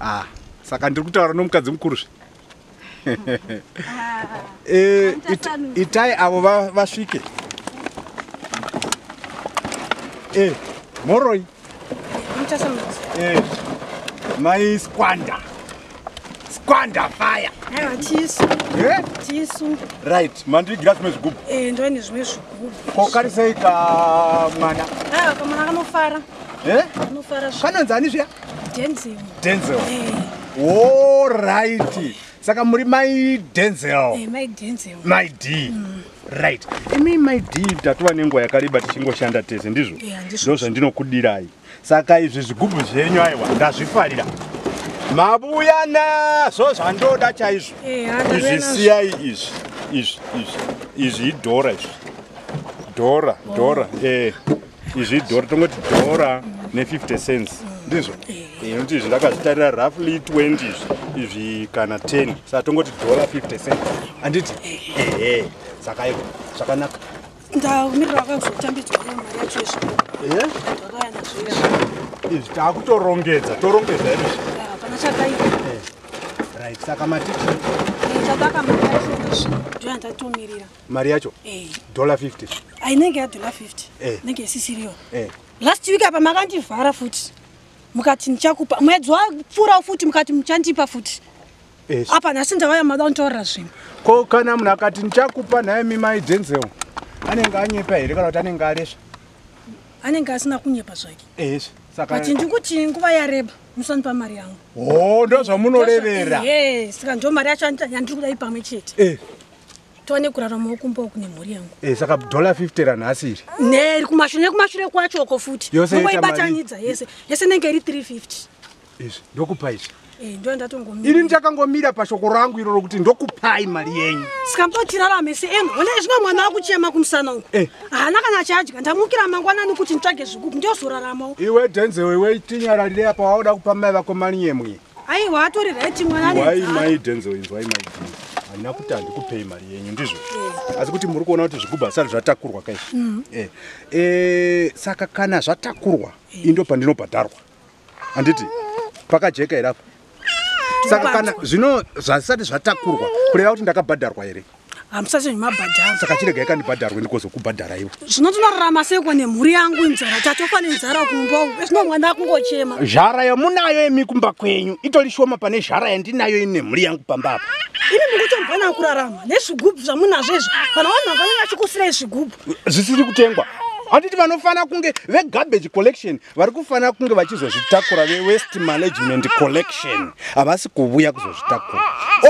ah saka ndiri kutaura nomukadzi mukuru zve eh, itai avo vasvike eh, moroi eh, mai squanda squanda fire right mandiigira zvimwe zvigubhu ndoine zvimwe zvigubhu kokarisei kamwana kamwana kanofara Eh? Kanonzi ani zviya? Denzel. Denzel. Eh. All right. Saka muri mai Denzel. Eh, mai Denzel. Mai D. Mm. Right. Imi mai D tatova nenguva yakareba tichingoshanda tese ndizvo. Eh, ndizvo zvandinokudirai. Saka izvi zvigubhu zvenyu aiwa ndazvifarira. Mabuya nazvo zvandoda chaizvo. Eh, izvi siyai izvi. Izvi izvi. Izvi idhora izvi. Dora, Dora, eh. izvi dhora tongoti dhora ne50 cents ndizvo inoti izvi ndakazvitarira roughly 20 izvi izvi kana 10 saka tongoti dhora 50 cents anditi ehe saka iko zvakanaka ndamirira vakazotambidzwa mari yacho izvi izvi takutorongedza torongedza iri pana chakaita right saka matiti chakaka mari yacho izvi ndoyandatomirira mari yacho eh. dollar 50 ainenge yadollar 50 eh. nenge isisiriyo eh. last week apa makandivhara futi mukati ndichakupa mwedzi wapfuurawo futi mukati muchandipa futi yes. apa nhasi ndavaya mada kunditaurira zvinhu ko kana munhu akati ndichakupa nhaye mimai denzel anenge anyepa here kana kuti anenge aresva anenge asina kunyepa zvake yes. but ndikuti nguva yareba musandipa mari yangu o oh, ndo zvamunorevera yes saka ndo mari yacho yandiri kuda ipamwe chete eh. tone kuraramawo kumba uku nemhuri yangu eh, saka dollar 50 ranhasi iri neri kumashure nekumashure kwacho uko futi yoseibatanidza yese yese nenge iri 350 izvi ndokupa izvi eh, ini ndichakangomira pashoko rangu iro rokuti ndokupai mari yenyu sikambotirarame seemu one zvino mwana akuchema kumusana uku eh. haana kana achadya ndamukira mangwanani kuti nditsvage zvikuku ndiozoraramawo iwe dhenzewe iwe tinyararire apa waoda kupa mai vako mari yemwe aiwa atori right mwana why mai denzel inzwai mai denzel handina kuti handikupei mari yenyu ndizvo eh. asi kuti muri kuona kuti zvigubhu asati zvatakurwa kai mm. eh. eh, saka kana zvatakurwa indo pandinobhadharwa handiti pakajeka here apo saka kana zvino zvasati zvatakurwa kureva kuti ndakabhadharwa here hamusati mabhadhara saka chirega ikandibhadharwe ndikozokubhadhara ivo zvino tinorarama seiko nemhuri yangu inzara tatofa nenzara kumba zvino mwana akungochema zhara yamunayo imi kumba kwenyu itori shoma pane zhara yandinayo ini nemhuri yangu pamba apa imi mukutombana kurarama nezvigubhu zvamunazvo izvi kana vanhu vangange vachikusirai zvigubhu zvisiri kutengwa handiti vanofanira kunge vegarbage collection vari kufanira kunge vachizozvitakura vewest management collection havasi kuvuya kuzozvitakura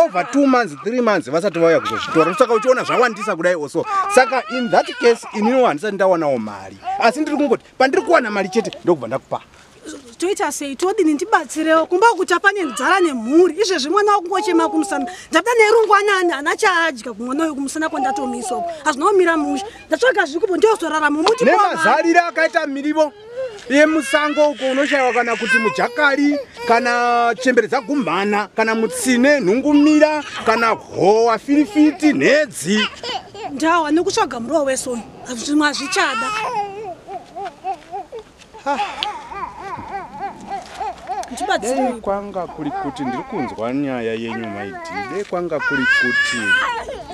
over two months three months vasati vauya kuzozvitora saka uchiona zvawandisa kudai oso saka in that case ininiwo handisati ndawanawo mari asi ndiri kungoti pandiri kuwana mari chete ndokubva ndakupa toita sei todini ndibatsirewo kumba kucha pane nzara nemhuri izvezvi mwana wakungochema kumusana ndada nerungwanani hana chaadya kumwana uyo kumusana kwandatomiswa hazvinaomira musha ndatsvaga zvikupo ndiyozorarama muti nemazarire akaita mirivo yemusango uko unoshaiwa kana kuti mujakari kana chembere dzagumhana kana mutsine nhungumira kana howa firifiti nhedzi ndawa nekutsvaga murowa wesoni hazvimwe hazvichada dei kwanga kuri kuti ndiri kunzwa nyaya yenyu maidi dei kwanga kuri kuti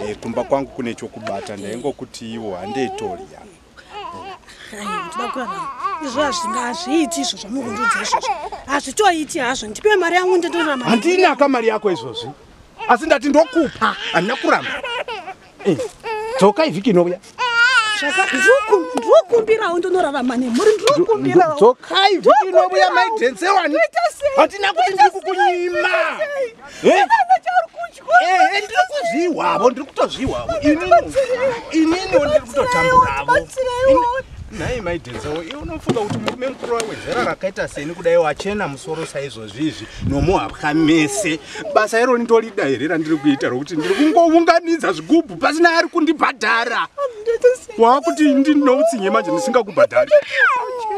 eh, kumba kwangu kune chokubata ndaingokuti ivo handeitoria izvo hazvinga hazviiti izvo zvamukundudza izvozvo hazvitoiti hazvo ndipe mari yangu nditorahandinaka mari yako izvozvi asi ndati ndokupa handina kuramba Eh, dzoka ivhiki inouya ndrokumbirawo ndonorarama nemhuri ndrokumbirawo dzokai vhiki inouya maidense wani hatina kuti ndiri kukunyima eh? eh, ndiri kuzvihwavo ndiri kutozvihwavo inini inini ndiri kutotamburavo nhai mai denzawo iwe unofunga kuti murume mukuru wawedzera rakaita seni kudai wachena musoro saizvozvi izvi nomuhapwa mese basa iro nditolida here randiri kuita rokuti ndiri kungounganidza zvigubhu pasina ari kundibhadhara waakuti ndinoutsinye manje ndisingakubhadhari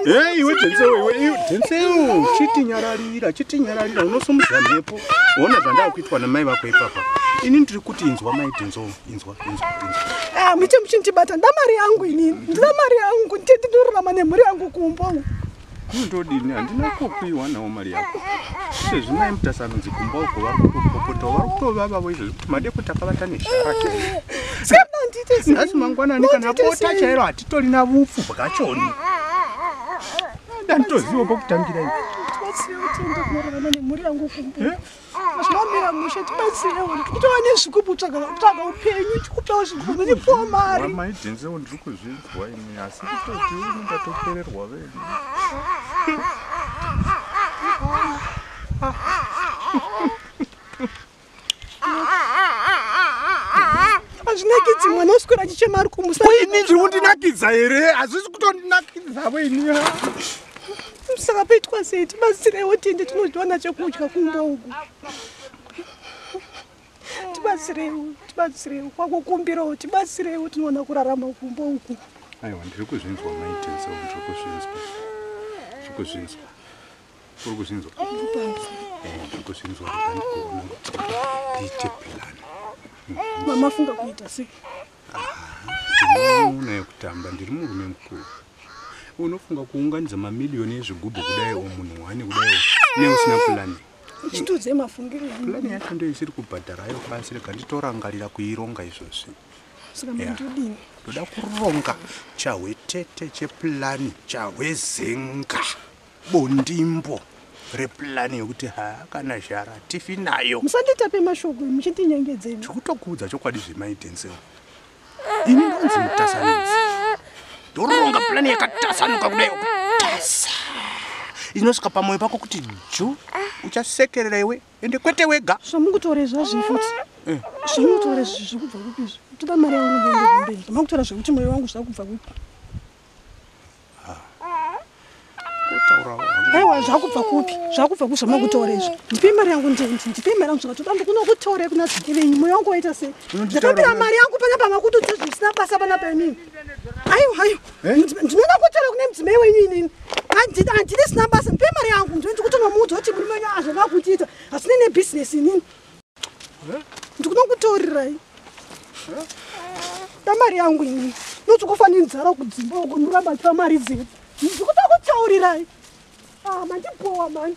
e iwe densewo iwe iwe densewo chitinyararira chitinyararira unosumudza mhepo ona zvandaa kuitwa namai vako ipapa ini ndiri kuti inzwa mai denzowo Ah, muchi muchindibata nda mari yangu inini ndina mari yangu nditi ndorurama nemhuri yangu kumba ndodini handina kupiwa nawo mari yako izvezvi mai mutasanonzi kumba uko vari kutopopota vari kutovavavo izvezvi kuti made kuti akavata neshara nhasi mangwanani kana bota chairo hatitori na vupfu bwachoni danditoziva pokutangira ivi zvinomira mushe tibatsirewo ndikutova nezvikupi kutsvaga upenyu tikupewo zvikupi ndipowo mari maidhinzewo ndiri kuzvinzwa ini asi kutoti uni ndatopererwa venyu azvinakidzi mwana uswera achichema ari kumusa ini ndiri kundinakidza here hazvisi kutondinakidza veni saka paitwa sei tibatsireiwo tiende tinowana chekudya kumba uku tibatsireiwo tibatsireiwo kwakukumbirawo tibatsireiwo tinoona kurarama kumba uku aiwa ndiri kuzvinzwa maitenso ndiri kuzvinzwa ndiri kuzvinzwa uri kuzvinzwa ndiri kuzvinzwa ndiite pilani mamafunga kuita sei Uno yekutamba ndiri murume mukuru. Unofunga kuunganidza mamiliyoni ezvigubhu kudai o munhu wani kudai neusina pulani. Chitudze mafungiro yangu. Pulani yacho ndiyo isiri kubhadhara ayo pasi rega nditorangarira kuironga izvozvi. Saka mandodini? Ndoda kuronga chahwetete chepulani chahwezenga. bondimbo replani yokuti haa kana zhara tifi nayo musanditape mashoko muchindinyengedzei tikutokuudza chokwadi zvemaidenseo ini ndonzi mutasanisi ndoronga plani yakatasanuka kudai kutasa inosvika pamoyo pako kuti ju uchasekerera iwe ende kwete wega zvamukutore zvazvii futi eh. zvamukutore zvekubva kupi zvi toda mari yangu ndendekumberi zvamakutora zvekuti moyo wangu zvakubva kupi aiwa zvakubva kupi zvakubva kuzva makutora izvo ndipei mari yangu ndipei mari yangu zvakatoda ndikunokutorei kuna zviki venyu moyo wangu waita sei ndakambira mari yangu pana pamakutudza zvisina basa pana painini aiwa aiwa eh? ndinoda kutora kune mudzimai wenyu inini handidi sina basa ndipei mari yangu ndikutonwa mudzi woti murume wenyu azvona kutiita hasinei nebhizinesi inini ndikunokutorirai tamari yangu ini noti kufaninzara kudzimba uko ndoramba tiva mari dzedu ndikuda kutaurirai ah, mandibowa mani